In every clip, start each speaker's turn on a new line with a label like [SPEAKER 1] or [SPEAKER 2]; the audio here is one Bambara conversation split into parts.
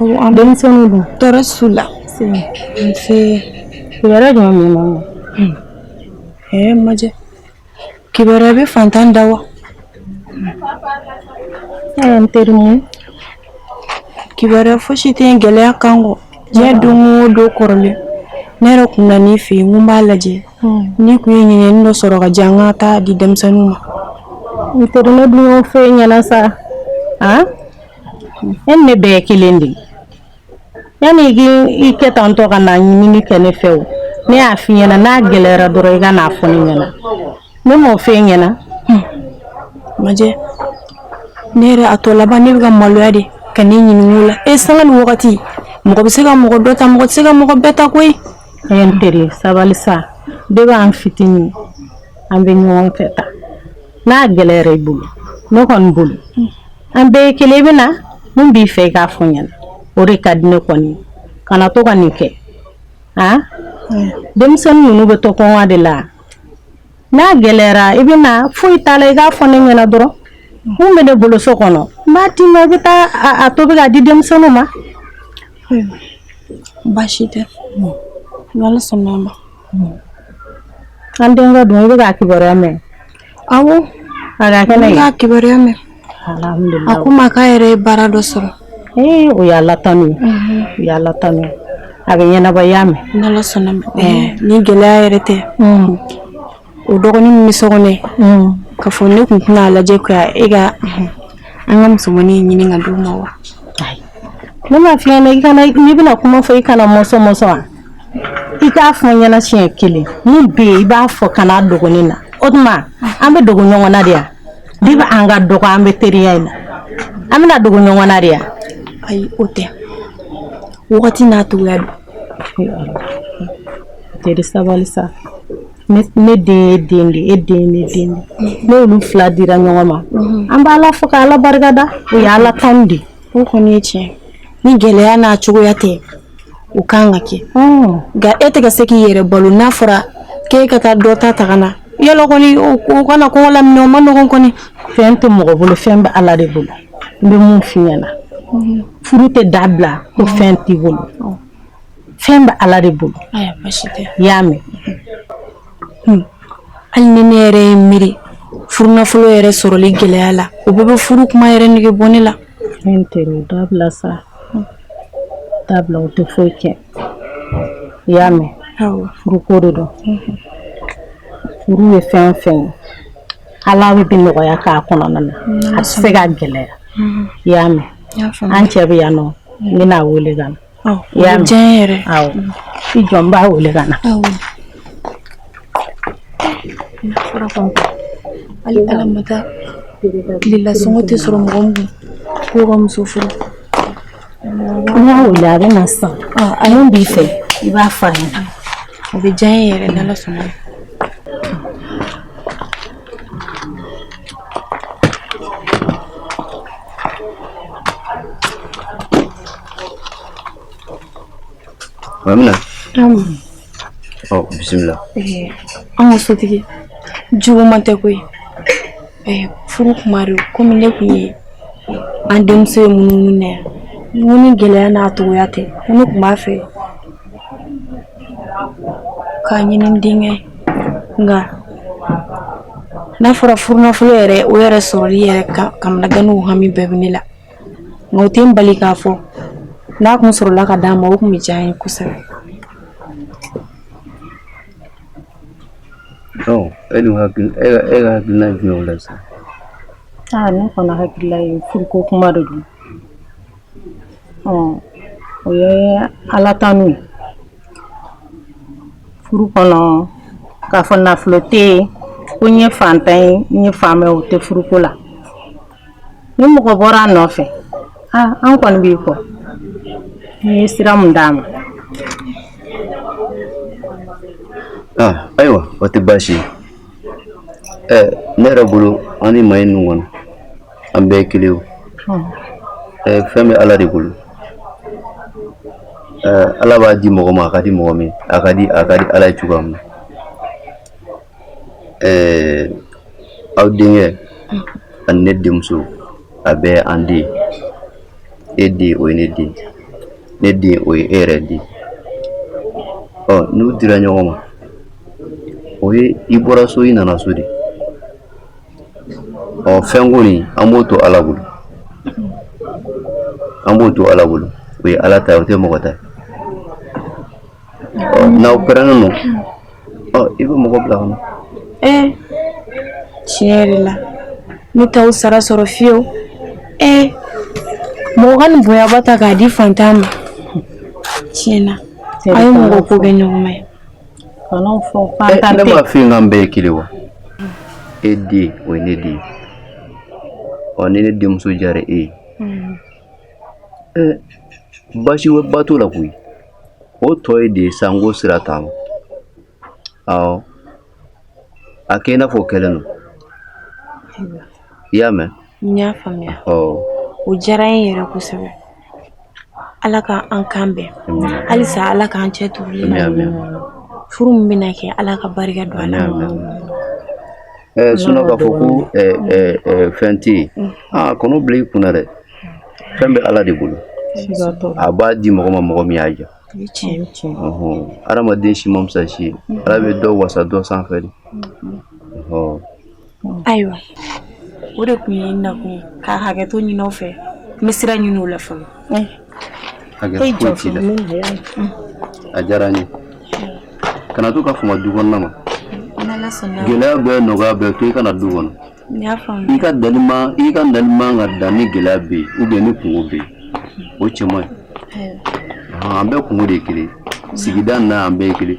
[SPEAKER 1] an denmisɛnninw dun tɔɔrɔ s'u
[SPEAKER 2] la
[SPEAKER 1] nse kibaruya jumɛn b'i ma ɛɛ majɛ
[SPEAKER 2] kibaruya bɛ faantan da wa
[SPEAKER 1] n teri mun
[SPEAKER 2] kibaruya fosi tɛ yen gɛlɛya kan kɔ diɲɛ don o don kɔrɔlen ne yɛrɛ kun nan'i fɛ yen n ko n b'a lajɛ n'i kun ye ɲinɛni dɔ sɔrɔ k'a di yan ka taa di denmisɛnninw ma n teri
[SPEAKER 1] ne dun y'o f'i ɲɛna sa E ni ne bɛɛ kelen de yanni i kɛ tan to ka na ɲinini kɛ ne fɛ o ne y'a fɔ i ɲɛna n'a gɛlɛyara dɔrɔn i ka n'a fɔ ne ɲɛna ne m'o f'i ɲɛna
[SPEAKER 2] majɛ ne yɛrɛ a tɔ laban ne bɛ ka maloya de ka ne ɲininka o la sanga ni wagati mɔgɔ bɛ se ka mɔgɔ dɔ ta mɔgɔ tɛ se ka mɔgɔ bɛɛ ta koyi n
[SPEAKER 1] teri sabali sa de b'an fitinin an bɛ ɲɔgɔn fɛ ta n'a gɛlɛyara i bolo ne kɔni bolo An bɛɛ ye kelen i bɛ na mun b'i fɛ i k'a fɔ ɲɛna o de ka di ne kɔni kana to ka nin kɛ a denmisɛnnin ninnu bɛ to kɔngɔ de la n'a gɛlɛyara i bɛ na foyi t'a la i k'a fɔ ne ɲɛna dɔrɔn min bɛ ne bolo so kɔnɔ n b'a d'i ma i bɛ taa a tobi k'a di denmisɛnninw
[SPEAKER 2] ma baasi tɛ an
[SPEAKER 1] denkɛ dun i bɛ k'a kibaruya mɛn Awɔ a ka kɛnɛ n b'a kibaruya
[SPEAKER 2] mɛn a
[SPEAKER 1] ko n ma k'a yɛrɛ
[SPEAKER 2] ye baara dɔ sɔrɔ ee o y'ala
[SPEAKER 1] tanu o y'ala tanu a bɛ ɲɛnabɔ i y'a mɛn
[SPEAKER 2] ni gɛlɛya yɛrɛ tɛ o dɔgɔnin min bɛ so kɔnɔ k'a fɔ ne kun tɛna a lajɛ e ka an ka musomannin ɲini ka d'u ma wa
[SPEAKER 1] ne m'a f'i ɲɛna n'i bɛna kuma fɔ i kana mɔsɔn mɔsɔn wa i k'a fɔ n ɲɛna siɲɛ kelen min bɛ yen i b'a fɔ kan'a dogo ne na o tuma an b'a dogo ɲɔgɔn na de yan de bɛ an ka dɔgɔ an bɛ teriya in na an bɛn'a dogo ɲɔgɔn na de yan ayi o tɛ
[SPEAKER 2] wagati n'a cogoya don
[SPEAKER 1] n teri sabali sa ne den ye den de e den ye den de n'olu fila dira ɲɔgɔn ma mhm. an b'ala fo ka ala barika da o ye ala tanu de o kɔni ye tiɲɛ
[SPEAKER 2] ni gɛlɛya n'a cogoya tɛ O ka kan ka kɛ nka e tɛ ka se k'i yɛrɛ balo n'a fɔra k'e ka taa dɔ ta ka na yala kɔni o kana kɔngɔ laminɛ o ma nɔgɔn kɔni fɛn tɛ mɔgɔ bolo
[SPEAKER 1] fɛn bɛ ala de bolo n bɛ mun f'i ɲɛna furu tɛ dabila ko fɛn t'i bolo fɛn bɛ ala de bolo i
[SPEAKER 2] y'a mɛn hali ni ne yɛrɛ ye miiri furu nafolo yɛrɛ sɔrɔli gɛlɛya la o bɛɛ bɛ furu kuma yɛrɛ nege bɔ ne la N
[SPEAKER 1] teri a dabila sa dabila o tɛ foyi kɛ i y'a mɛn furu ko de don furu ye fɛn o fɛn ye ala b'a bɛɛ nɔgɔya k'a kɔnɔna na a tɛ se ka gɛlɛya i y'a mɛn an cɛ bɛ yan nɔ n bɛn'a wele ka na y'a diya
[SPEAKER 2] yɛrɛ
[SPEAKER 1] i jɔ n b'a wele ka na
[SPEAKER 2] hali ala ma taa tilela sɔngɔ tɛ sɔrɔ mɔgɔ min ko ka muso furu
[SPEAKER 1] n y'a wele a bɛ na sisan min b'i fɛ i b'a fɔ a ɲɛna o bɛ diya
[SPEAKER 2] n ye yɛrɛ n'ala sɔnna
[SPEAKER 3] Mamina. Ɔ bisimila. An
[SPEAKER 2] ka sotigi juguman tɛ koyi furu kuma de komi ne kun ye aw denmuso ye munumunu na yan ni gɛlɛya n'a dɔgɔya tɛ ne kun b'a fɛ K'a ɲini n denkɛ nka n'a fɔra furu nafolo yɛrɛ o yɛrɛ sɔrɔli yɛrɛ kamanagan n'o hami bɛɛ bɛ ne la nka o tɛ n bali k'a fɔ n'a kun sɔrɔla k'a d'a ma o kun bɛ diya n ye
[SPEAKER 3] kosɛbɛ e la sa ne
[SPEAKER 1] hakili la furu ko kuma de don o ye ala tanu ye furu kɔnɔ k'a fɔ nafolo tɛ yen ko n ye fantan ye n ye faama ye o tɛ furuko la ni mɔgɔ bɔra a nɔfɛ aa an kɔni b'i kɔ n ye sira mun d'a
[SPEAKER 3] ma ayiwa o tɛ baasi ye ne yɛrɛ bolo an ni maa ninnu kɔnɔ an bɛɛ ye kelen fɛn bɛ ala de bolo ala b'a di mɔgɔ ma a ka di mɔgɔ min a ka di ala ye cogoya min aw denkɛ ani ne denmuso a bɛɛ an den e den o ye ne den ne den o ye e yɛrɛ den ɔ n'u dira ɲɔgɔn ma o ye i bɔra so i nana so de ɔ fɛnko nin an b'o to ala bolo an b'o to ala bolo o ye ala ta o tɛ mɔgɔ ta n'aw parelen don ɔ i bɛ mɔgɔ bila ka na
[SPEAKER 2] ee tiɲɛ yɛrɛ la ne t'aw sara sɔrɔ fiyewu ee mɔgɔ ka nin bonyaba ta k'a di fantan ma tiɲɛ na a ye mɔgɔ ko bɛ ɲɔgɔn ma ye
[SPEAKER 3] Kan'o fɔ k'an eh, ta tɛ. Ne m'a f'i ye k'an bɛɛ ye kelen wa? E den o ye ne den ye. Ɔ ni ne denmuso diyara e ye. Hmm. Eh, basi ba t'o la koyi. O tɔ ye de ye sa n ko sira taama. Awɔ. A kɛ i n'a fɔ o kɛlen don. I y'a mɛn? N
[SPEAKER 2] y'a faamuya o diyara n ye yɛrɛ kosɛbɛ ala ka an kan bɛn halisa ala k'an cɛ tugu furu min bɛna kɛ ala ka barika don a la
[SPEAKER 3] sinon k'a fɔ ko fɛn tɛ yen aa kan'o bila i kun na dɛ fɛn bɛ ala de bolo a b'a di mɔgɔ ma mɔgɔ min y'a diya adamaden si man fisa si ye ala bɛ dɔ wasa dɔ sanfɛ de
[SPEAKER 2] ayiwa o de tun ye n nakun ye ka hakɛto ɲinin aw fɛ n bɛ sira ɲinin o la
[SPEAKER 3] fɔlɔ a diyara n ye kana to ka fama du kɔnɔna ma gɛlɛya bɛɛ nɔgɔya bɛɛ to i ka na du kɔnɔ i ka nali man i ka nali man ka dan ni gɛlɛya bɛ yen ou bien ni kunko bɛ yen o cɛ man ɲi an bɛɛ kunko de ye kelen sigida na an bɛɛ ye kelen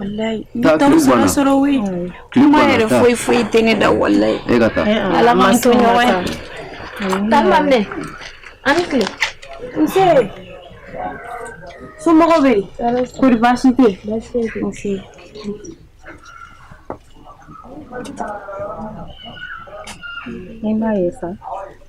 [SPEAKER 2] Walayi n t'aw sara sɔrɔ we kuma yɛrɛ foyi foyi tɛ ne da walayi
[SPEAKER 3] ala m'an to
[SPEAKER 2] ɲɔgɔn ye a ni tile nse somɔgɔw bɛ yen kɔri baasi tɛ yen nse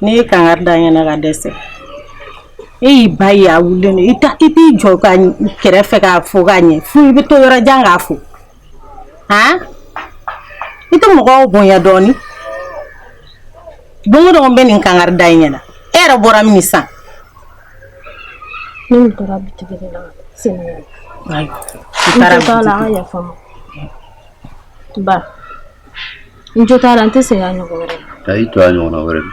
[SPEAKER 1] ne ye kangari da i ɲɛna ka dɛsɛ e y'i ba ye a wulilen don i ta i t'i jɔ a kɛrɛfɛ k'a fo k'a ɲɛ fo i bɛ to yɔrɔ jan k'a fo han i tɛ mɔgɔw bonya dɔɔnin don o don n bɛ nin kangari da i ɲɛna e yɛrɛ bɔra min
[SPEAKER 4] san. ne min taara bitigi de la sɛnɛgali. ayiwa i taara bitigi la aw ka yafa n ma. ba. n jo t'a la n tɛ segin a ɲɔgɔn wɛrɛ ma ka i to a ɲɔgɔnna wɛrɛ ma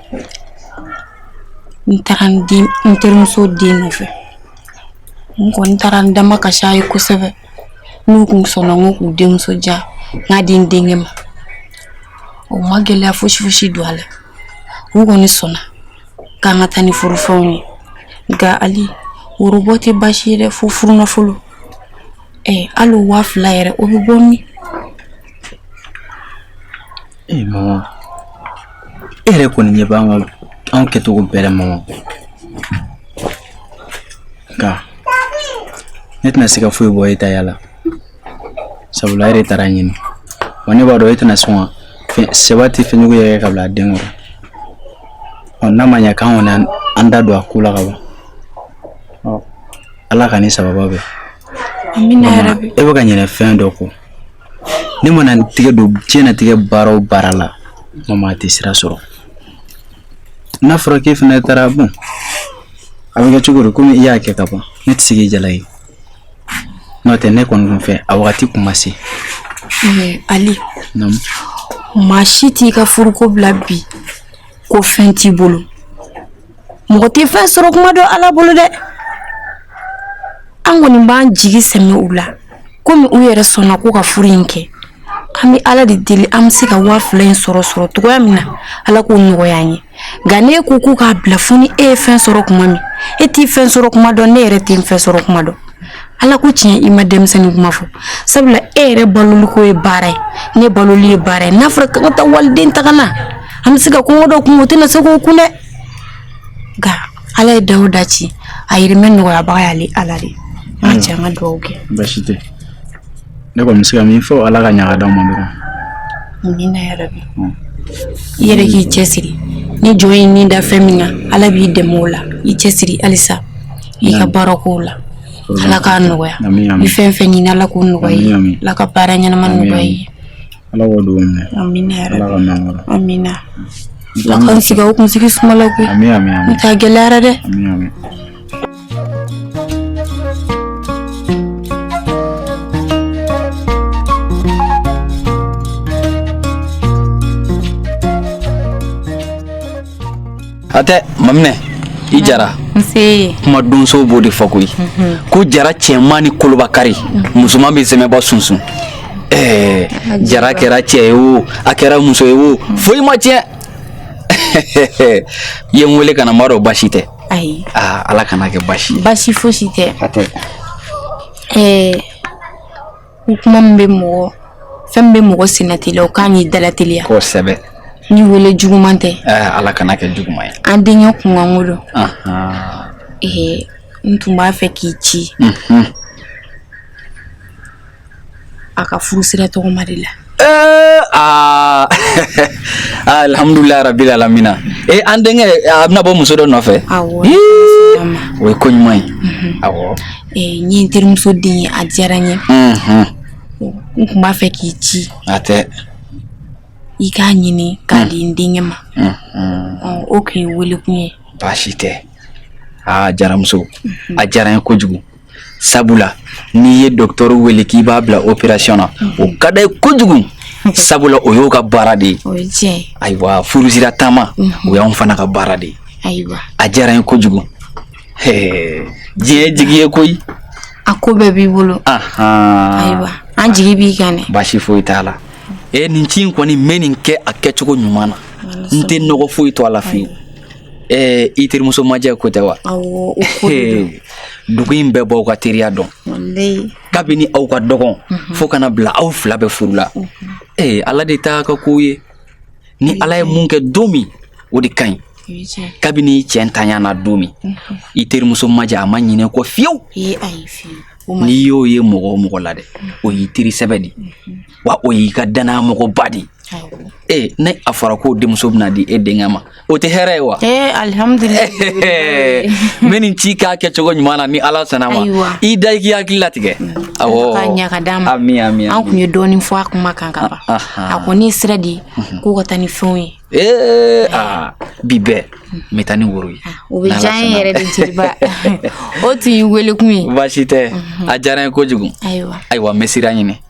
[SPEAKER 2] n taara n den n terimuso den nɔfɛ n kɔni taara n damakasi a ye kosɛbɛ n'u kun sɔnna n ko k'u denmuso di yan k'a di n denkɛ ma u ma gɛlɛya fosi fosi don a la u kɔni sɔnna k'an ka taa ni furufɛnw ye nka ali worobɔ tɛ baasi ye dɛ fo furunafolo ɛ hali o waa fila yɛrɛ o bɛ bɔ min
[SPEAKER 5] E mama e yɛrɛ kɔni ɲɛ b'an ka anw kɛcogo bɛɛ la mama nka ne tɛna se ka foyi bɔ e ta yala sabula e de taara a ɲini wa ne b'a dɔn e tɛna sɔn ka fɛn sɛbɛ tɛ fɛn jugu yɛrɛ ka bila a den kɔrɔ ɔ n'a ma ɲɛ k'an kɔni y'an da don a ko la ka ban ala k'an ni sababu
[SPEAKER 2] bɛn e bɛ ka ɲinɛ fɛn dɔ
[SPEAKER 5] kɔ ne mana n tigɛ don diɲɛnatigɛ baara o baara la mama a tɛ sira sɔrɔ n'a fɔra k'e fana taara bon a bɛ kɛ cogo di komi i y'a kɛ ka ban ne tɛ se k'i jalaki n'o tɛ ne kɔni kun fɛ a wagati kun ma
[SPEAKER 2] se ali maa si t'i ka furuko bila bi ko fɛn t'i bolo mɔgɔ tɛ fɛn sɔrɔ kuma dɔn ala bolo dɛ an kɔni b'an jigi sɛmɛ u la komi u yɛrɛ sɔnna ko ka furu in kɛ an bɛ ala de deli an bɛ se ka waa fila in sɔrɔ sɔrɔ cogoya min na ala k'o nɔgɔya an ye nka ne ko ko k'a bila fo ni e ye fɛn sɔrɔ kuma min e t'i fɛn sɔrɔ kuma dɔn ne yɛrɛ tɛ fɛn sɔrɔ kuma dɔn Ala ko tiɲɛ i ma denmisɛnnin kuma fɔ sabula e yɛrɛ baloli ko ye baara ye ne baloli ye baara ye n'a fɔra ka taa waliden ta ka na an bɛ se ka kɔngɔ dɔ kun o tɛna se k'o kun dɛ nka ala ye da o da ci a dahirimɛ nɔgɔyabaga y'ale ala de an ka jɛ an ka dugawu kɛ baasi
[SPEAKER 5] tɛ ne kɔni bɛ se ka min fɔ ala ka ɲaga d'an ma dɔrɔn amina
[SPEAKER 2] yarabi i yɛrɛ k'i cɛ siri ni jɔn y'i ni da fɛn min na ala b'i dɛmɛ o la i cɛ siri halisa i ka baara kow la ala k'a nɔgɔya n'i fɛn fɛn ɲini ala k'o nɔgɔya i ye ala ka baara ɲɛnama nɔgɔya i ye ala k'o dugawu
[SPEAKER 5] minɛ amina ala k'aw mɛn
[SPEAKER 2] an kɔrɔ amina
[SPEAKER 5] ala
[SPEAKER 2] k'an sigi aw kunsigi suma la koyi amina amina n ta
[SPEAKER 5] gɛlɛyara
[SPEAKER 2] dɛ amina amina
[SPEAKER 5] a tɛ maminɛ i jara
[SPEAKER 2] kuma donsow
[SPEAKER 5] b'o de fɔ koyi mhm. ko jara cɛman ni koloba kari musoman bɛ sɛmɛba sunsun ɛɛ jara kɛra cɛ ye o a kɛra muso ye o foyi ma tiɲɛ i ye n wele ka na n b'a dɔn baasi tɛ ayi aa ala
[SPEAKER 2] kana kɛ
[SPEAKER 5] baasi ye baasi fosi tɛ a tɛ
[SPEAKER 2] ɛɛ Ni kuma min bɛ mɔgɔ fɛn min bɛ mɔgɔ senna teliya o kan y'i dala teliya kosɛbɛ
[SPEAKER 5] ni weele
[SPEAKER 2] juguman tɛ ala kana kɛ
[SPEAKER 5] juguman ye an denkɛ kunkanko
[SPEAKER 2] don ee n tun b'a fɛ k'i ci a ka furu sira tɔgɔma de la Eh,
[SPEAKER 5] aa alihamdulilayi rabili alamina e an denkɛ a bɛna bɔ muso dɔ
[SPEAKER 2] nɔfɛ o
[SPEAKER 5] ye ko ɲuman ye mhm. awɔ eh, n ye n
[SPEAKER 2] terimuso den ye a diyara n ye mhm. n tun b'a fɛ k'i ci a tɛ i k'a ɲini k'a di n denkɛ ma mhm. o tun y'i welekun ye baasi tɛ
[SPEAKER 5] aa jaramuso a diyara n ye kojugu sabula n'i ye docteur wele k'i b'a bila opération na mhm. o ka d'a ye kojugu sabula o y'o ka baara de ye ayiwa
[SPEAKER 2] furusira
[SPEAKER 5] taama mhm. o y'anw fana ka baara de ye a diyara
[SPEAKER 2] n ye kojugu
[SPEAKER 5] diɲɛ jigi ye koyi a ko
[SPEAKER 2] bɛɛ b'i bolo ayiwa an jigi b'i kan dɛ baasi foyi t'a la
[SPEAKER 5] e nin ci in kɔni n bɛ nin kɛ a kɛcogo ɲuman na n tɛ nɔgɔ foyi to a la fiyewu Ɛɛ i terimuso majɛ ko tɛ
[SPEAKER 2] wa dugu in
[SPEAKER 5] bɛɛ b'aw ka teriya dɔn kabini aw ka dɔgɔn fo ka n'a bila aw fila bɛɛ furu la ee ala de t'a ka ko ye ni ala ye mun kɛ don min o de ka ɲi kabini i cɛntanya na don min i terimuso majɛ a ma ɲinɛ i kɔ fiyewu n'i y'o ye mɔgɔ o mɔgɔ la dɛ o y'i teri sɛbɛ de wa o y'i ka dannaya mɔgɔba de ee ni a fɔra k'o denmuso bɛna di e denkɛ ma o tɛ hɛrɛ ye wa eh, alihamudulila n bɛ nin ci k'a kɛcogo ɲuman na ni ala sɔnna ma i da i k'i hakili latigɛ mm. awɔ k'a ɲa ka d'a ma
[SPEAKER 2] amin amin an tun ye dɔɔnin
[SPEAKER 5] fɔ a
[SPEAKER 2] kuma kan ka ban ah, ah, ah. a kɔni ye sira di mhm. k'o ka taa ni fɛnw ye ee eh,
[SPEAKER 5] aa bi bɛɛ n bɛ taa ni woro ye o bɛ diya n ye
[SPEAKER 2] yɛrɛ de jeliba o
[SPEAKER 5] tun y'i welekun ye
[SPEAKER 2] baasi
[SPEAKER 5] tɛ mhm. a diyara n ye
[SPEAKER 2] kojugu
[SPEAKER 5] ayiwa ayiwa n bɛ sira
[SPEAKER 2] ɲini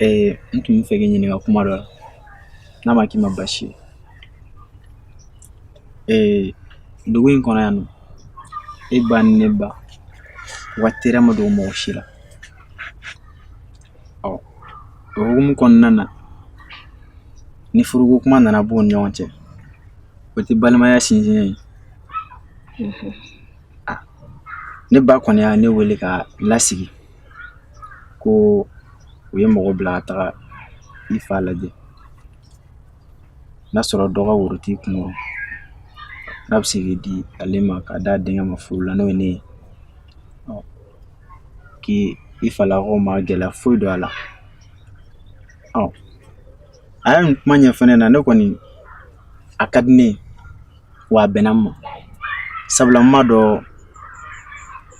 [SPEAKER 6] Ee n tun b'a fɛ k'i ɲininka kuma dɔ la n'a ma k'i ma baasi ye ee dugu in kɔnɔ yan nɔ e ba ni ne ba u ka teriya ma dogo mɔgɔ si la ɔ o hukumu kɔnɔna na ni furuko kuma nana b'u ni ɲɔgɔn cɛ o tɛ balimaya sinsin ye ne ba kɔni ye ne wele ka lasigi ko u ye mɔgɔ bila ka taga i fa lajɛ n'a sɔrɔ dɔ ka woro t'i kunkɔrɔ n'a bɛ se k'i di ale ma ka d'a denkɛ ma furu la n'o ye ne ye k'i falakaw ma gɛlɛya foyi don a la a ye nin kuma ɲɛfɔ n ɲɛ na ne kɔni a ka di ne wa a bɛnna n ma sabula n b'a dɔn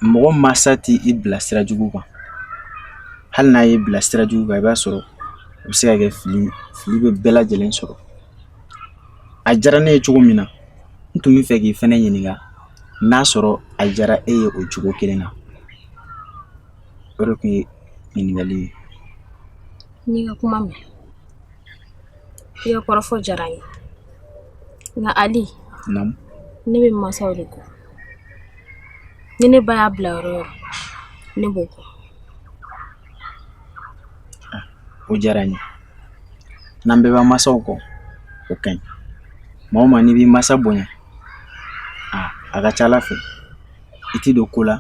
[SPEAKER 6] mɔgɔ mansa t'i bila sira jugu kan hali n'a y'i bila sira jugu kan i b'a sɔrɔ o bɛ se ka kɛ fili fili bɛ bɛɛ lajɛlen sɔrɔ a diyara ne ye cogo min na n tun bɛ fɛ k'i fɛnɛ ɲininka n'a sɔrɔ a diyara e ye o cogo kelen na o de tun ye ɲininkali ye
[SPEAKER 4] n'i ka kuma mɛn I ka kɔrɔfɔ diyara n ye nka Ali, naamu, ne bɛ n mansaw de kɔ ni ne ba y'a bila yɔrɔ o yɔrɔ ne b'o kɔ
[SPEAKER 6] o diyara n ye n'an bɛɛ b'an mansaw kɔ o ka ɲi maa o maa n'i b'i mansa bonya a a ka ca Ala fɛ i tɛ don ko la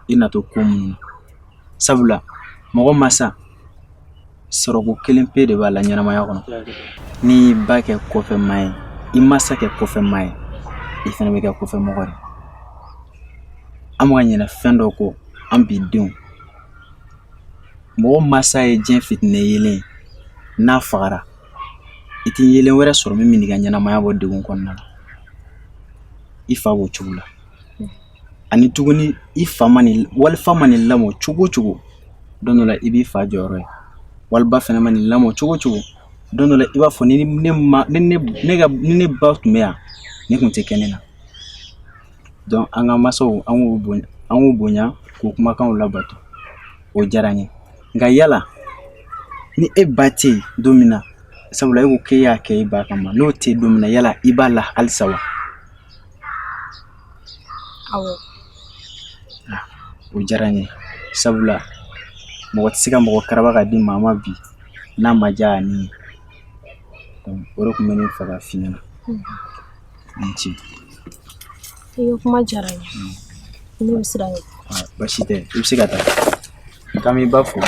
[SPEAKER 6] i na to ko minnu na sabula mɔgɔ mansa Sɔrɔko kelen pe de b'a la ɲɛnamaya kɔnɔ n'i y'i ba kɛ kɔfɛmaa ye i mansa kɛ kɔfɛmaa ye i fana bɛ kɛ kɔfɛmɔgɔ ye an bɛ ka ɲinɛ fɛn dɔ kɔ an bi denw mɔgɔ mansa ye diɲɛ fitinɛ yeelen ye n'a fagara i tɛ yeelen wɛrɛ sɔrɔ min bɛn'i ka ɲɛnamaya bɔ degun kɔnɔna na i fa b'o cogo la ani tuguni i fa man'i walifa man'i lamɔ cogo o cogo don dɔ la i b'i fa jɔyɔrɔ ye waliba fana man'i lamɔ cogo o cogo don dɔ la i b'a fɔ ni ne ma ni ne ne ka ni ne ba tun bɛ yan nin tun tɛ kɛ ne na donc an ka mansaw an k'u bonya an k'u bonya k'u kumakanw labato o diyara n ye nka yala ni e ba tɛ yen don min na sabula e ko k'e y'a kɛ e ba kama n'o tɛ yen don min na yala i b'a la halisa wa
[SPEAKER 4] Awɔ.
[SPEAKER 6] Ah, o diyara n ye sabula mɔgɔ tɛ se ka mɔgɔ karaba ka di maa ma bi n'a ma diya a ni ye donc o de tun bɛ ne fɛ ka f'i ɲɛna. I ni
[SPEAKER 4] ce. I ka kuma diyara n ye. Ne bɛ sira ɲini. Ah, basi tɛ i
[SPEAKER 6] bɛ se ka taa k'an b'i ba fo.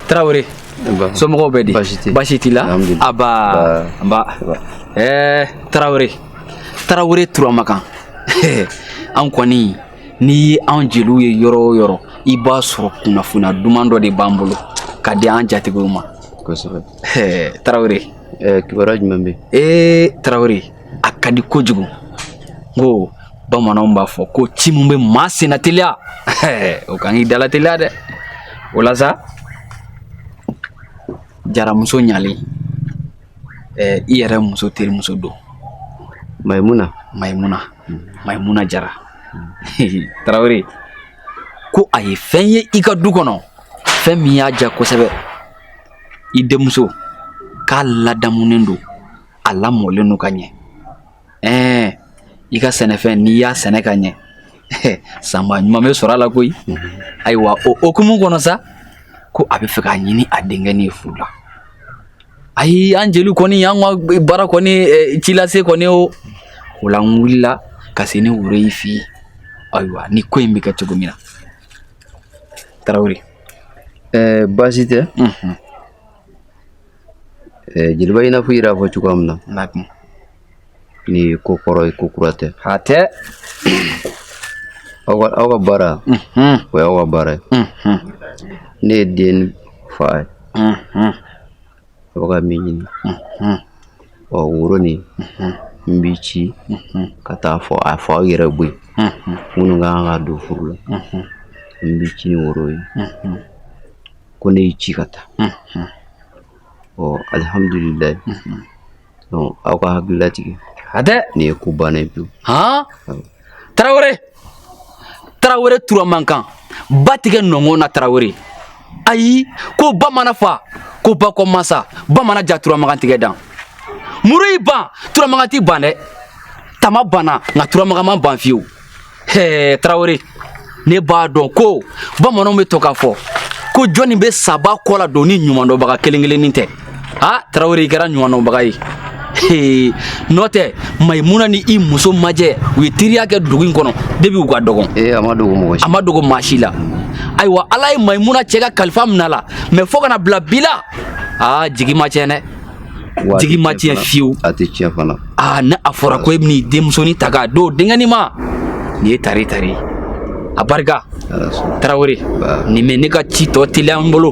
[SPEAKER 5] Tarawele somɔgɔw bɛ di basi t'i la aba nba ɛɛ tarawele tarawele turamakan an kɔni n'i ye an jeliw ye yɔrɔ o yɔrɔ i b'a sɔrɔ kunnafoniya duman dɔ de b'an bolo ka di an jatigiw ma kosɛbɛ tarawele kibaruya jumɛn bɛ yen ee tarawele a ka di kojugu n ko bamananw b'a fɔ ko ci min bɛ maa senna teliya o kan k'i dala teliya dɛ o la sa jaramuso ɲalen ɛɛ i yɛrɛ muso terimuso don mayimuna mayimuna mayimuna jara tarawele ko a ye fɛn ye i ka du kɔnɔ fɛn min y'a diya kosɛbɛ i denmuso k'a ladamunen don a lamɔlen don ka ɲɛ ɛɛ i ka sɛnɛfɛn n'i y'a sɛnɛ ka ɲɛ sanba ɲuman bɛ sɔrɔ a la koyi ayiwa o hukumu kɔnɔ sa ko a bɛ fɛ k'a ɲini a denkɛnin ye furu la ayi an jeliw kɔni an ka baara kɔni eh, ci lase kɔni o o la n wulila ka se ni woro y'i f'i ye ayiwa ni ko in bɛ kɛ cogo min na tarawele
[SPEAKER 3] ɛɛ baasi tɛ jeliba i n'a fɔ i yɛrɛ y'a fɔ cogoya min na nin ko kɔrɔ ye ko kura tɛ hatɛ aw ka aw ka baara o y'aw ka baara ye ne ye den fa ye aw ka min ɲini ɔ woro nin n b'i ci ka taa fɔ a fɔ aw yɛrɛ bɔ yen minnu ka kan ka don furu la n b'i ci ni woro ye ko ne y'i ci ka taa ɔ alihamdulilayi donc aw ka hakili latigɛ hatɛ nin ye ko bannen ye pewu han tarawele
[SPEAKER 5] tarawele turamagan ba tigɛ nɔngɔn na tarawele ayi ko ba mana fa ko ba kɔ masa ba mana ja turamagan tigɛ dan muru y'i ban turamagan t'i ban dɛ tama banna nka turamagan ma ban fiyewu tarawele ne b'a dɔn ko bamananw bɛ to k'a fɔ ko jɔnni bɛ saba kɔ la don ni ɲumandɔnbaga kelen kelennin tɛ a tarawele i kɛra ɲumandɔnbaga ye n'o tɛ mayimuna ni i muso majɛ u ye teriya kɛ dugu in kɔnɔ depuis u ka dɔgɔn a ma dogo maa si la ayiwa ala ye mayimuna cɛ ka kalifa minɛ a la mais fo ka na bila bi la aa jigi ma tiɲɛ dɛ jigi ma tiɲɛ fiyewu a tɛ tiɲɛ
[SPEAKER 3] fana aa ni a fɔra
[SPEAKER 5] ko e bɛn'i denmusonin ta k'a d'o denkɛnin ma nin ye tare tare ye a barika tarawele nin bɛ ne ka ci tɔ teliya n bolo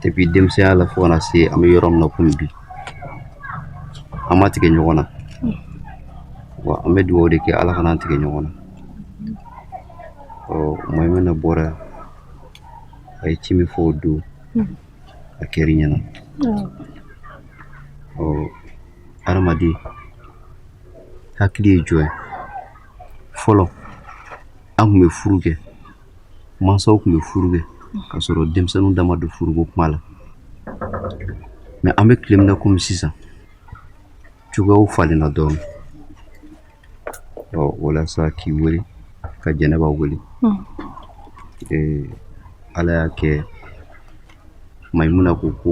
[SPEAKER 3] depuis denmisɛnya la fo ka na se an bɛ yɔrɔ min na komi bi an ma tigɛ ɲɔgɔn na wa an bɛ dugawu de kɛ ala kana an tigɛ ɲɔgɔn na ɔ Mayimuna bɔra a ye ci min fɔ o don a kɛr'i ɲɛna ɔ hadamaden hakili ye jɔn ye fɔlɔ an kun bɛ furu kɛ mansaw tun bɛ furu kɛ k'a sɔrɔ denmisɛnninw da ma don furuko kuma la mais an bɛ tile min na komi sisan cogoyaw falenna dɔɔnin ɔ walasa k'i wele ka jɛnɛba wele hmm. ee, ala y'a kɛ Mayimuna ko ko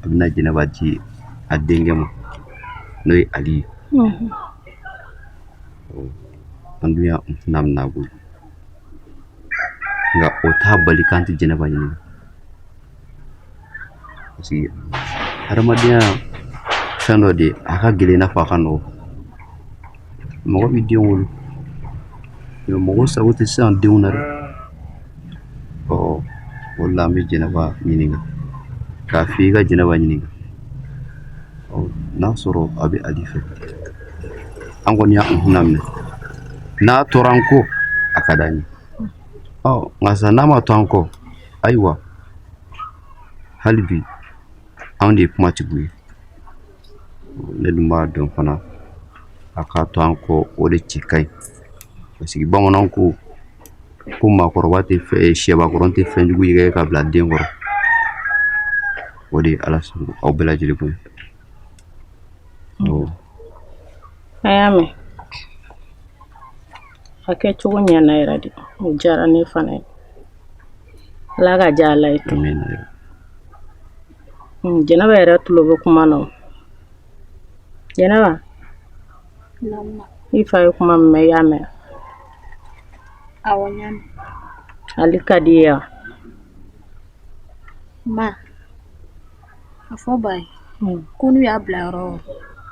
[SPEAKER 3] a bɛna jɛnɛba di a denkɛ ma n'o ye ali ye an dun y'a minɛ a bolo nka o t'a bali k'an tɛ jɛnɛba ɲininka parce que hadamadenya fɛn dɔ de a ka gɛlɛn i n'a fɔ a ka nɔgɔ mɔgɔ b'i den wolo mais mɔgɔ sago tɛ se a denw na dɛ ɔ o de la an bɛ jɛnɛba ɲininka k'a f'i ka jɛnɛba ɲininka ɔ n'a sɔrɔ a bɛ ali fɛ an kɔni y'a kunna minɛ n'a tora an kɔ a ka d'an ye ɔ nka sa n'a ma to an kɔ ayiwa hali bi anw de ye kumatigiw ye ne dun b'a dɔn fana a ka to an kɔ o de cɛ ka ɲi parce que bamananw ko ko maakɔrɔba tɛ fɛn eh, sɛbakɔrɔ tɛ fɛn jugu yɛrɛkɛ ka bila den kɔrɔ o de ye ala sɔn aw bɛɛ lajɛlen
[SPEAKER 1] bonya a y'a mɛn a kɛcogo ɲɛna yɛrɛ de o diyara ne fana ye ala k'a diya ala ye Hmm, jɛnɛba yɛrɛ tulo bɛ kuma na jɛnɛba i fa ye kuma min mɛn i y'a mɛn
[SPEAKER 4] ali ka
[SPEAKER 1] d'i ye ma
[SPEAKER 4] a fɔ ba ye hmm. ko n'u y'a bila yɔrɔ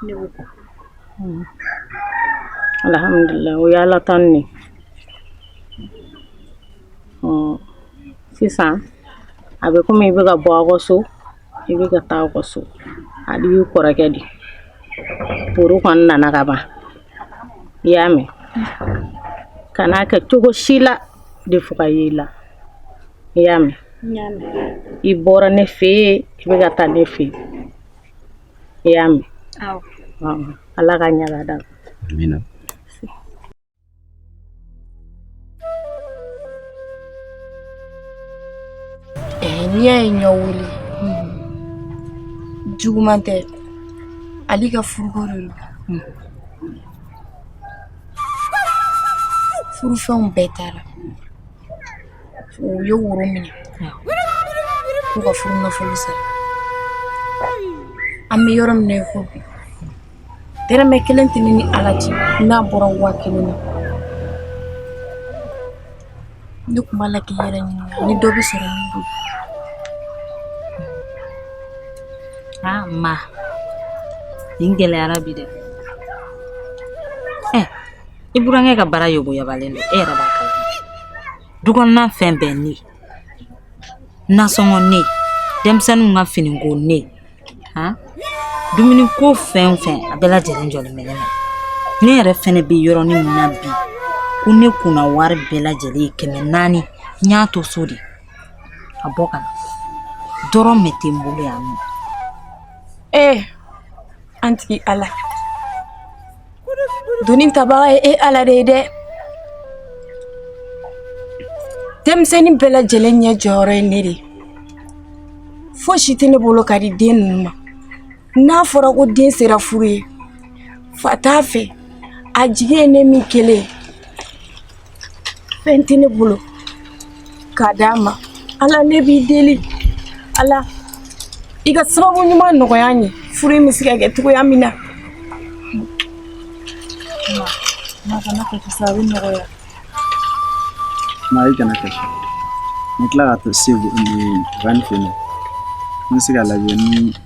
[SPEAKER 4] ne b'o kɔ hmm.
[SPEAKER 1] alhamdulilayi o ye ala tanu ye sisan a bɛ komi i bɛ ka bɔ aw ka so i bɛ ka taa aw ka so ali y'i kɔrɔkɛ di furu kɔni nana ka ban i y'a mɛn kana kɛ cogo si la dɛ fɔ ka ye i la i y'a mɛn i bɔra ne fɛ yen i bɛ ka taa ne fɛ yen i y'a mɛn ala ka ɲaga da
[SPEAKER 2] n'i y'a ye n y'aw wele juguman tɛ Ali ka furuko de don furufɛnw bɛɛ taara u ye woro minɛ k'u ka furu nafolo sara an bɛ yɔrɔ min na i ko bi dɛrɛmɛ kelen tɛ ne ni ala cɛ n'a bɔra waa kelen na ne tun b'a la k'i yɛrɛ ɲininka ni dɔ bɛ sɔrɔ min bolo
[SPEAKER 7] aa ma nin gɛlɛyara bi dɛ ɛ i burankɛ ka baara yoboyabalen don e yɛrɛ b'a kalama du kɔnɔna fɛn bɛɛ ne nasɔngɔ ne denmisɛnninw ka finiko ne han dumuni ko fɛn o fɛn a bɛɛ lajɛlen jɔlen bɛ ne na ne yɛrɛ fɛnɛ bɛ yɔrɔnin min na bi ko ne kunna wari bɛɛ lajɛlen ye kɛmɛ naani n y'a to so de a bɔ ka na dɔrɔmɛ tɛ n bolo yan nɔ ee
[SPEAKER 2] an tigi ala Doni tabaga ye e ala de ye dɛ denmisɛnnin bɛɛ lajɛlen ɲɛ jɔyɔrɔ ye ne de ye fosi tɛ ne bolo ka di den ninnu ma n'a fɔra ko den sera furu ye fa t'a fɛ a jigi ye ne min kelen ye fɛn tɛ ne bolo k'a d'a ma ala ne b'i deli ala i ka sababu ɲuman nɔgɔya n ye furu in bɛ se ka kɛ cogoya min na
[SPEAKER 1] ma kana kasi sa a bɛ
[SPEAKER 6] nɔgɔya ma i kana kasi n tila ka taa segu ni ban fɛ n bɛ se k'a lajɛ ni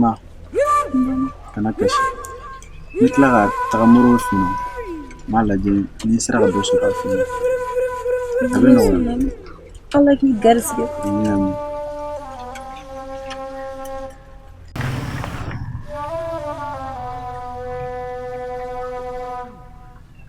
[SPEAKER 6] ma kana kasi n bɛ tila ka taga mori fɛ yen n b'a lajɛ ni n sera ka dɔ sɔrɔ a fɛ yen a bɛ nɔgɔya ala
[SPEAKER 1] k'i garisigɛ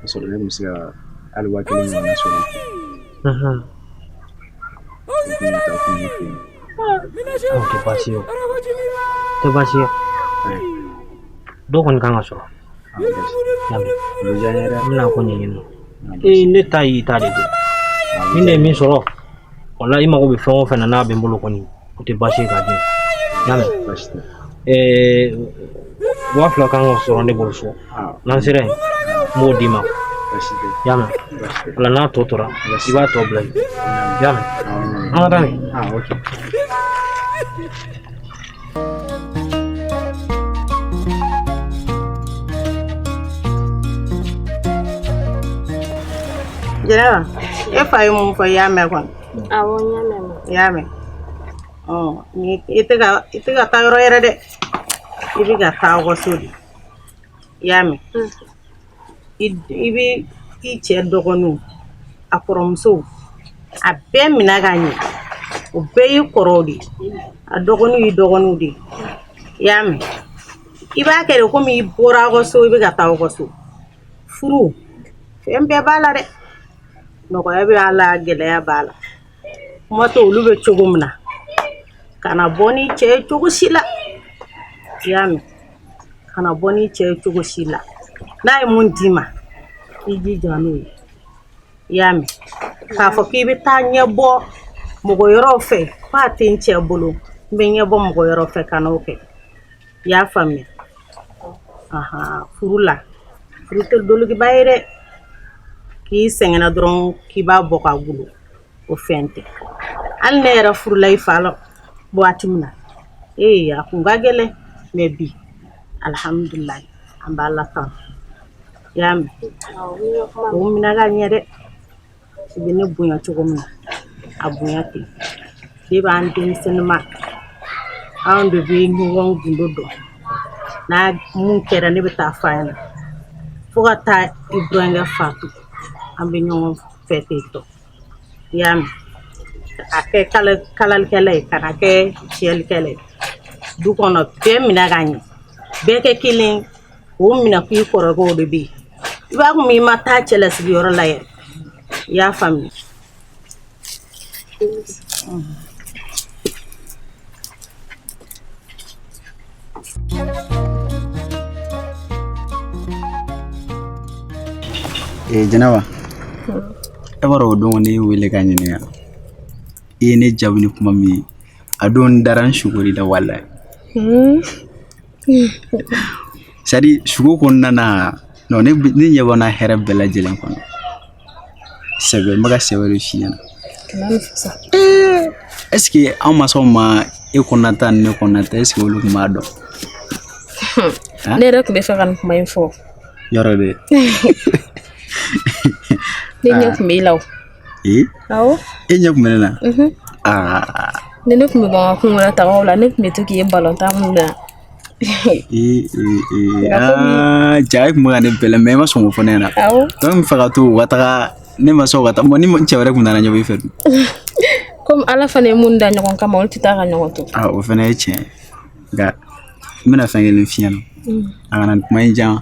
[SPEAKER 6] Ka sɔrɔ ne muso hali waa kelen
[SPEAKER 8] sɔrɔ ne ta de ni ne ye min sɔrɔ wala i mago bɛ fɛn o fɛn na n'a bɛ n bolo kɔni o tɛ baasi ye k'a di y'a mɛn waa fila kan ka sɔrɔ ne bolo so n'an sera yen n b'o d'i ma y'a
[SPEAKER 6] mɛn
[SPEAKER 8] wala n'a tɔ tora i b'a tɔ bila yen y'a mɛn an ka taa
[SPEAKER 6] nin
[SPEAKER 1] jɛnɛba e fa ye mun fɔ i y'a mɛn kɔni awɔ n y'a
[SPEAKER 4] mɛn i y'a
[SPEAKER 1] mɛn ɔ i tɛ ka i tɛ ka taa yɔrɔ wɛrɛ dɛ i bɛ ka taa aw ka so de i y'a mɛn i bɛ i cɛ dɔgɔninw a kɔrɔmusow a bɛɛ mina ka ɲɛ o bɛɛ y'i kɔrɔw de a dɔgɔninw y'i dɔgɔninw de i y'a mɛn i b'a kɛ de komi i bɔra aw ka so i bɛ ka taa aw ka so furu fɛn bɛɛ b'a la dɛ nɔgɔya bɛ a la gɛlɛya b'a la kuma tɛ olu bɛ cogo min na kana bɔ ni cɛ ye cogo si la i y'a mɛn kana bɔ ni cɛ ye cogo si la n'a ye mun d'i ma i jija n'o ye i y'a mɛn k'a fɔ k'i bɛ taa ɲɛ bɔ mɔgɔ yɔrɔw fɛ f'a tɛ n cɛ bolo n bɛ ɲɛ bɔ mɔgɔ yɔrɔ fɛ kan'o kɛ i y'a faamuya furu la furu tɛ dolokiba ye dɛ k'i sɛgɛnna dɔrɔn k'i b'a bɔ k'a dulon o fɛn tɛ hali ne yɛrɛ furula i fa la waati min na ee a kun ka gɛlɛn mɛ bi alihamudulilayi an b'a la tan i y'a mɛn o minɛ ka ɲɛ dɛ i bɛ ne bonya cogo min na a bonya ten de b'an denmisɛnninma anw de bɛ ɲɔgɔn gundo dɔn n'a mun kɛra ne bɛ taa f'a ɲɛna fo ka taa i burankɛ fatu an bɛ ɲɔgɔn fɛ ten tɔ i y'a mɛn a kɛ kalalikɛla ye kana kɛ tiɲɛlikɛla ye du kɔnɔ bɛɛ minɛ ka ɲɛ bɛɛ kɛ kelen o minɛ k'i kɔrɔkɛw de bɛ yen i b'a kɛ komi i ma taa cɛlasigiyɔrɔ la yɛrɛ i y'a faamuya
[SPEAKER 6] ee eh, jɛnɛba e b'a dɔn o don ne wele ka ɲininka i ye ne jaabi ni kuma min ye a don n dara n sugor'i la walayi hmm. sadi sugo kɔnɔna na ne ne ɲɛ b'a na hɛrɛ bɛɛ lajɛlen kɔnɔ sɛbɛ n bɛ ka sɛbɛ de f'i ɲɛna ɛseke an mansaw ma e kɔnɔna ta ni ne kɔnɔna ta ɛseke olu tun b'a dɔn
[SPEAKER 4] ne yɛrɛ tun bɛ fɛ ka nin kuma in fɔ yɔrɔ de ne ɲɛ tun b'i la o ee awɔ e ɲɛ tun bɛ ne
[SPEAKER 6] na aa
[SPEAKER 4] ni ne tun bɛ bɔ n ka kungo la tagaw la ne tun bɛ to k'i ye balontan minnu na
[SPEAKER 6] ja e kun bɛ ka ne bɛlɛn mɛ i ma sɔn k'o fɔ ne ɲɛna donc n bɛ fɛ ka to u ka taga ne ma sɔn ka taa ni cɛ wɛrɛ kun nana ɲɔgɔn i fɛ dun
[SPEAKER 4] komi ala fana ye mun da ɲɔgɔn kama olu tɛ taa ka ɲɔgɔn to o fana ye tiɲɛ ye
[SPEAKER 6] nka n bɛna fɛn kelen f'i ɲɛna a kana kuma in jan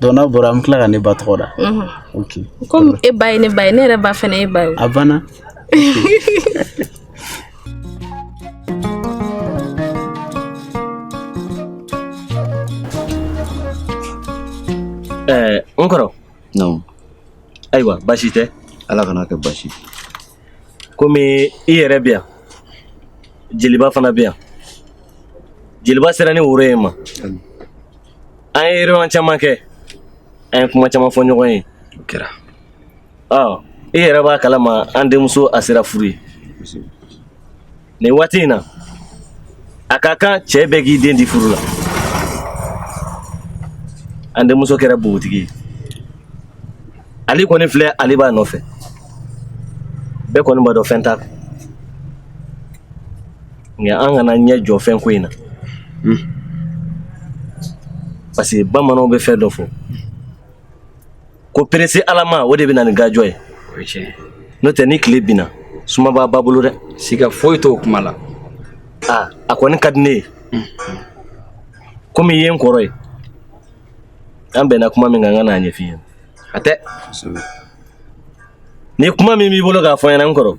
[SPEAKER 6] Donc n'a bɔra an bɛ tila ka ne ba tɔgɔ da kɔmi e ba
[SPEAKER 4] ye ne ba ye ne yɛrɛ ba fana y'e ba ye a
[SPEAKER 8] banna ɛɛ n kɔrɔ
[SPEAKER 3] ayiwa baasi tɛ ala kana kɛ baasi
[SPEAKER 8] komi i yɛrɛ bɛ yan jeliba fana bɛ yan jeliba sera ni woro ye ma an ye réunion caman kɛ an ye kuma caman fɔ ɲɔgɔn ye o kɛra i yɛrɛ b'a kalama an denmuso a sera furu ye nin waati in na a ka kan cɛ bɛɛ k'i den di furu la an denmuso kɛra bogotigi ye ale kɔni filɛ ale b'a nɔfɛ bɛɛ kɔni b'a dɔn fɛn t'a kun nka an kana ɲɛ jɔ fɛn ko in na parce que bamananw bɛ fɛn dɔ fɔ ko perese alama o de bɛ na ni gajɔ ye n'o tɛ ni tile binna suma b'a ba bolo dɛ siga foyi t'o kuma
[SPEAKER 5] la a a
[SPEAKER 8] kɔni ka di ne ye komi i ye n kɔrɔ ye an bɛnna kuma min kan n ka n'a ɲɛf'i ɲɛna a tɛ ni kuma min b'i bolo k'a fɔ n ɲɛna n kɔrɔ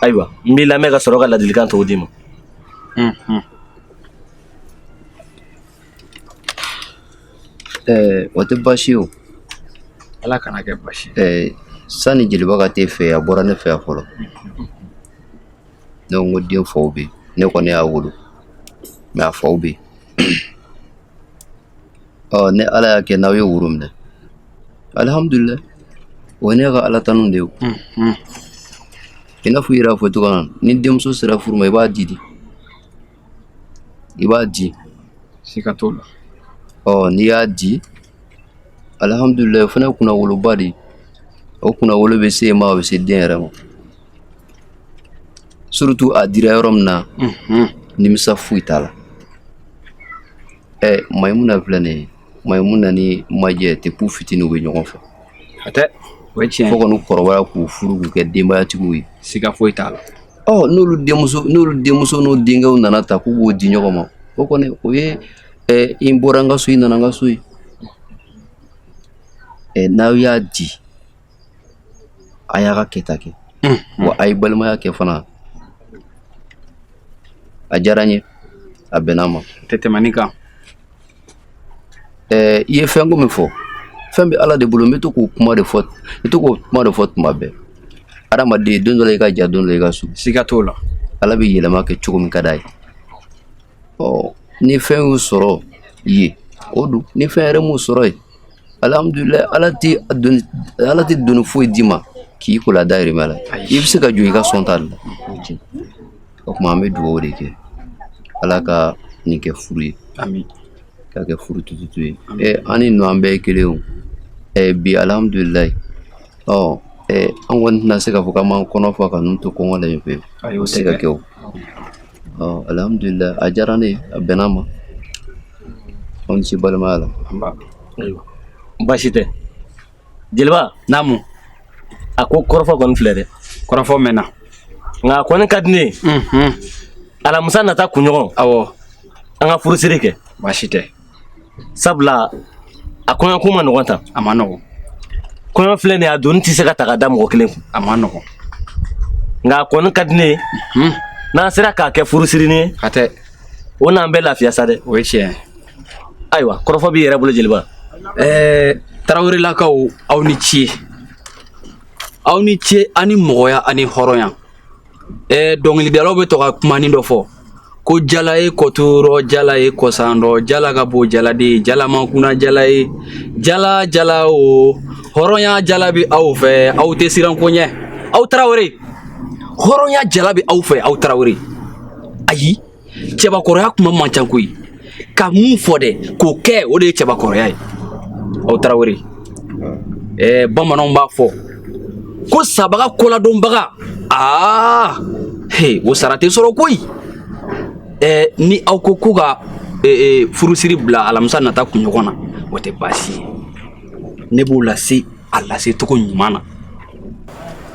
[SPEAKER 8] ayiwa n b'i lamɛn ka sɔrɔ ka ladilikan tɔw d'i ma
[SPEAKER 3] Ɛɛ o tɛ baasi ye o
[SPEAKER 5] ala kana kɛ baasi ɛɛ
[SPEAKER 3] sani jeliba ka t'e fɛ a bɔra ne fɛ yan fɔlɔ ne ko n ko den faw bɛ yen ne kɔni y'a wolo mɛ a faw bɛ yen ɔ ni ala y'a kɛ n'aw ye woro minɛ alihamudulilayi o ye ne ka ala tanu de ye o i n'a fɔ i yɛrɛ y'a fɔ cogoya min na ni denmuso sera furu ma i b'a di de i b'a di siga
[SPEAKER 5] t'o la ɔ
[SPEAKER 3] n'i y'a di alihamudulilayi o fana ye kunnawoloba de ye o kunnawolo bɛ s'e ma o bɛ se den yɛrɛ ma surtout a dira yɔrɔ min na nimisa foyi t'a la ɛ mayimuna filɛ nin ye mayimuna ni majɛ depuis fitini u bɛ ɲɔgɔn fɛ hatɛ
[SPEAKER 5] o ye tiɲɛ fo kɔni kɔrɔbaya k'u
[SPEAKER 3] furu k'u kɛ denbayatigiw ye siga foyi t'a la
[SPEAKER 5] Ɔ n'olu
[SPEAKER 3] denmuso n'olu denmuso n'o denkɛw nana ta k'u b'o di ɲɔgɔn ma o kɔni o ye ɛ i bɔra n ka so i nana n ka so ye ɛ n'aw y'a di a y'a ka kɛta kɛ wa a ye balimaya kɛ fana a diyara n ye a bɛnna n ma tɛ tɛmɛ nin kan ɛɛ i ye fɛn ko min fɔ fɛn bɛ ala de bolo n bɛ to k'o kuma de fɔ i to k'o kuma de fɔ tuma bɛɛ adamaden don dɔ la i ka jan don dɔ la i ka surun siga t'o la
[SPEAKER 5] ala bɛ yɛlɛma kɛ
[SPEAKER 3] cogo min ka d'a ye ɔ ni fɛn y'u sɔrɔ ye o don ni fɛn yɛrɛ m'u sɔrɔ ye alihamudulilayi ala tɛ doni ala tɛ doni foyi d'i ma k'i kola dayirimɛ la i bɛ se ka jɔ i ka sɔn ta de la O tuma an bɛ dugawu de kɛ ala ka nin kɛ furu ye
[SPEAKER 5] k'a kɛ
[SPEAKER 3] furu tututu ye an ni ninnu an bɛɛ ye kelen ye bi alihamudulilayi ɔ an kɔni tɛna se k'a fɔ k'an b'an kɔnɔ fa ka ninnu to kɔngɔ la yen fɛ o tɛ se ka kɛ o alihamudulilayi a diyara ne ye a bɛnna n ma aw ni ce balimaya la
[SPEAKER 8] baasi tɛ jeliba
[SPEAKER 5] naamu a
[SPEAKER 8] ko kɔrɔfɔ kɔni filɛ dɛ kɔrɔfɔ
[SPEAKER 5] mɛnna nka a
[SPEAKER 8] kɔni ka di ne ye unhun alamusa nata kunɲɔgɔn awɔ
[SPEAKER 5] an ka furusiri
[SPEAKER 8] kɛ baasi tɛ
[SPEAKER 5] sabu
[SPEAKER 8] la a kɔɲɔko man nɔgɔn tan a man
[SPEAKER 5] nɔgɔn
[SPEAKER 8] kɔɲɔ filɛ nin ye a doni tɛ se ka ta ka da mɔgɔ kelen kun a man
[SPEAKER 5] nɔgɔn nka
[SPEAKER 8] a kɔni ka di ne ye unhun n'an sera k'a kɛ furusirinin ye hatɛ
[SPEAKER 5] o n'an bɛ
[SPEAKER 8] lafiya sa dɛ o ye tiɲɛ ye ayiwa kɔrɔfɔ b'i yɛrɛ bolo jeliba ɛɛ
[SPEAKER 5] tarawelelakaw aw ni ce aw ni ce ani mɔgɔya ani hɔrɔnya ɛɛ dɔnkilidalaw bɛ to ka kumanin dɔ fɔ ko jala ye kɔturɔ jala ye kɔsandɔ jala ka bon jala de ye jala man kunan jala ye jala jala o hɔrɔnya jala bɛ aw fɛ aw tɛ siran ko ɲɛ aw tarawele hɔrɔnya jala bɛ aw fɛ aw tarawele ayi cɛbakɔrɔya kuma man ca koyi ka min fɔ dɛ k'o kɛ o de ye cɛbakɔrɔya ye aw tarawele ɛɛ bamananw b'a fɔ ko sabaga kɔladonbaga aa he o sara tɛ sɔrɔ koyi ɛɛ ni aw ko ko ka ee furusiri bila alamisa nata kunɲɔgɔn na o tɛ baasi ye ne b'o lase a lase cogo ɲuman na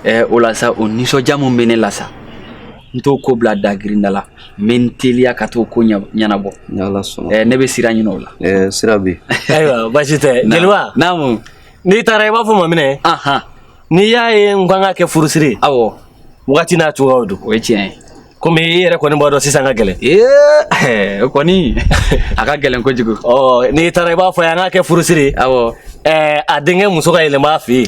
[SPEAKER 5] ɛɛ o la sa o nisɔndiya min bɛ ne la sa n t'o ko bila dagirinda la n bɛ n teliya ka t'o ko ɲɛnabɔ ne bɛ sira ɲini o la sira bɛ ayiwa
[SPEAKER 3] baasi tɛ
[SPEAKER 8] jeliba naamu n'i
[SPEAKER 5] taara i b'a
[SPEAKER 8] fɔ ma minɛ n'i y'a ye n kan k'a kɛ furusiri awɔ
[SPEAKER 5] wagati
[SPEAKER 8] n'a cogoyaw don o ye tiɲɛ
[SPEAKER 5] ye komi i yɛrɛ
[SPEAKER 8] kɔni b'a dɔn sisan ka gɛlɛn ee
[SPEAKER 5] o kɔni a ka gɛlɛn kojugu n'i taara i b'a
[SPEAKER 8] fɔ a ye an k'a kɛ furusiri awɔ
[SPEAKER 5] a denkɛ
[SPEAKER 8] muso ka yɛlɛma a fɛ yen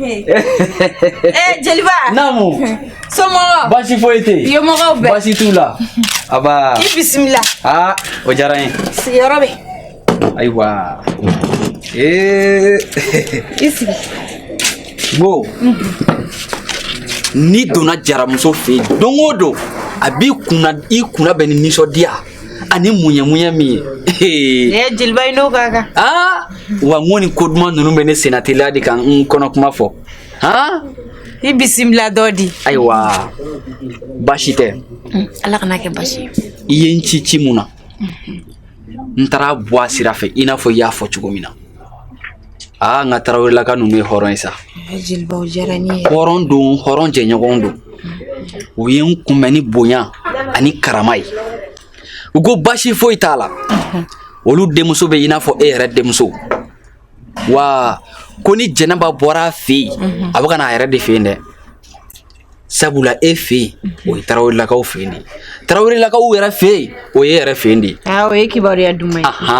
[SPEAKER 9] Eh, jeliba
[SPEAKER 5] namu
[SPEAKER 9] somɔgɔw basi foyi tɛ
[SPEAKER 5] yen yomɔgɔw bɛɛ basi t'u la aba i bisimila
[SPEAKER 9] aa o diyara n
[SPEAKER 5] ye sigiyɔrɔ bɛ
[SPEAKER 9] ayiwa ee i sigi
[SPEAKER 5] wo n'i donna jaramuso fɛ yen don o don a b'i kunna bɛn ni nisɔndiya ani muɲɛmuɲɛ min ye ee jeliba i n'o
[SPEAKER 9] ka kan aa
[SPEAKER 5] wa n ko nin ko duman ninnu bɛ ne sennateliya de ka n kɔnɔ kuma fɔ han
[SPEAKER 9] i bisimila dɔ di
[SPEAKER 5] ayiwa baasi tɛ mm, ala kan'a
[SPEAKER 9] kɛ baasi ye i ye n ci
[SPEAKER 5] ci mun na n taara bɔ a sira fɛ i n'a fɔ i y'a fɔ cogo min na aa nka tarawelelaka ninnu ye hɔrɔn ye sa jeliba o
[SPEAKER 9] diyara n ye hɔrɔn don
[SPEAKER 5] hɔrɔn jɛɲɔgɔn don u ye n kunbɛn ni bonya ani karama ye u ko basi foyi t'a la olu denmuso bɛ i n'a fɔ e yɛrɛ denmuso wa ko ni jɛnɛba bɔra a fɛ yen a bɛ ka na a yɛrɛ de fɛ yen dɛ sabula e fɛ yen mhm. o ye tarawelelakaw fɛ yen de tarawelelakaw yɛrɛ fɛ yen o ye e yɛrɛ fɛ yen de ah, o ye kibaruya
[SPEAKER 9] duman ye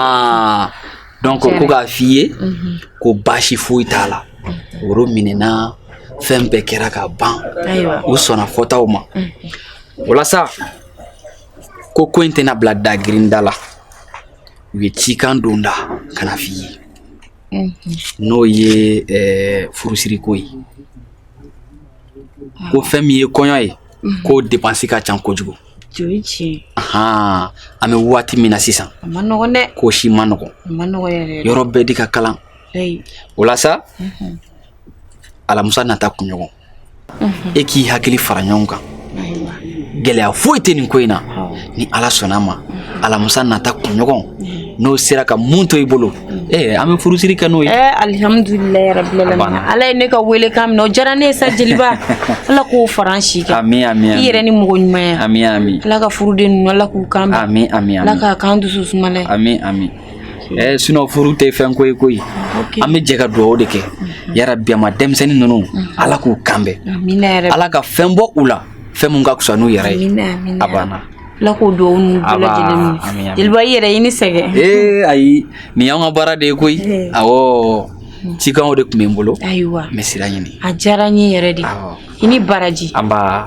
[SPEAKER 9] donc
[SPEAKER 5] ko k'a f'i ye mhm. ko baasi foyi t'a la mhm. woro minɛna fɛn bɛɛ kɛra ka ban u
[SPEAKER 9] sɔnna fɔtaw
[SPEAKER 5] ma walasa ko ko in tɛna bila dagirinda la u ye cikan don n da ka n'a f'i ye n'o ye eh, furusiriko ye ko fɛn min ye kɔɲɔ ye mhm. ko depansi ka ca kojugu an bɛ waati min na sisan ko si man nɔgɔ yɔrɔ bɛɛ de ka kalan o la sa mhm. alamusa nata kunɲɔgɔn mhm. e k'i hakili fara ɲɔgɔn kan gɛlɛya foyi tɛ nin ko in na ni ala sɔnna ma alamusa nata kunɲɔgɔn n'o sera ka mun to i bolo ee an bɛ furusiri kɛ n'o ye alihamdulilayi
[SPEAKER 2] rabilalamina ala ye ne ka welekan minɛ o diyara ne ye sa jeliba ala k'o fara an si kan ami ami i yɛrɛ
[SPEAKER 5] ni mɔgɔ ɲumanya
[SPEAKER 2] ami ami ala ka
[SPEAKER 5] furuden ninnu ala
[SPEAKER 2] k'u kan bɛn ami ami ala k'a k'an
[SPEAKER 5] dusu
[SPEAKER 2] sumalan ami ami
[SPEAKER 5] ɛɛ sinon furu tɛ fɛn ko ye koyi an bɛ jɛ ka dugawu de kɛ yarabi ama denmisɛnnin ninnu ala k'u kan bɛn ala ka fɛn bɔ u la fɛn min ka fisa n'u yɛrɛ ye a banna ala k'o dugawu ninnu bɛɛ lajɛlen minɛ jeliba i yɛrɛ i ni sɛgɛn ee ayi nin y'an ka baara de ye koyi awɔ cikanw
[SPEAKER 2] de tun bɛ n
[SPEAKER 5] bolo
[SPEAKER 2] ayiwa
[SPEAKER 5] n bɛ
[SPEAKER 2] sira ɲini a
[SPEAKER 5] diyara
[SPEAKER 2] n ye yɛrɛ
[SPEAKER 5] de
[SPEAKER 2] i
[SPEAKER 5] ni
[SPEAKER 2] baraji
[SPEAKER 5] anba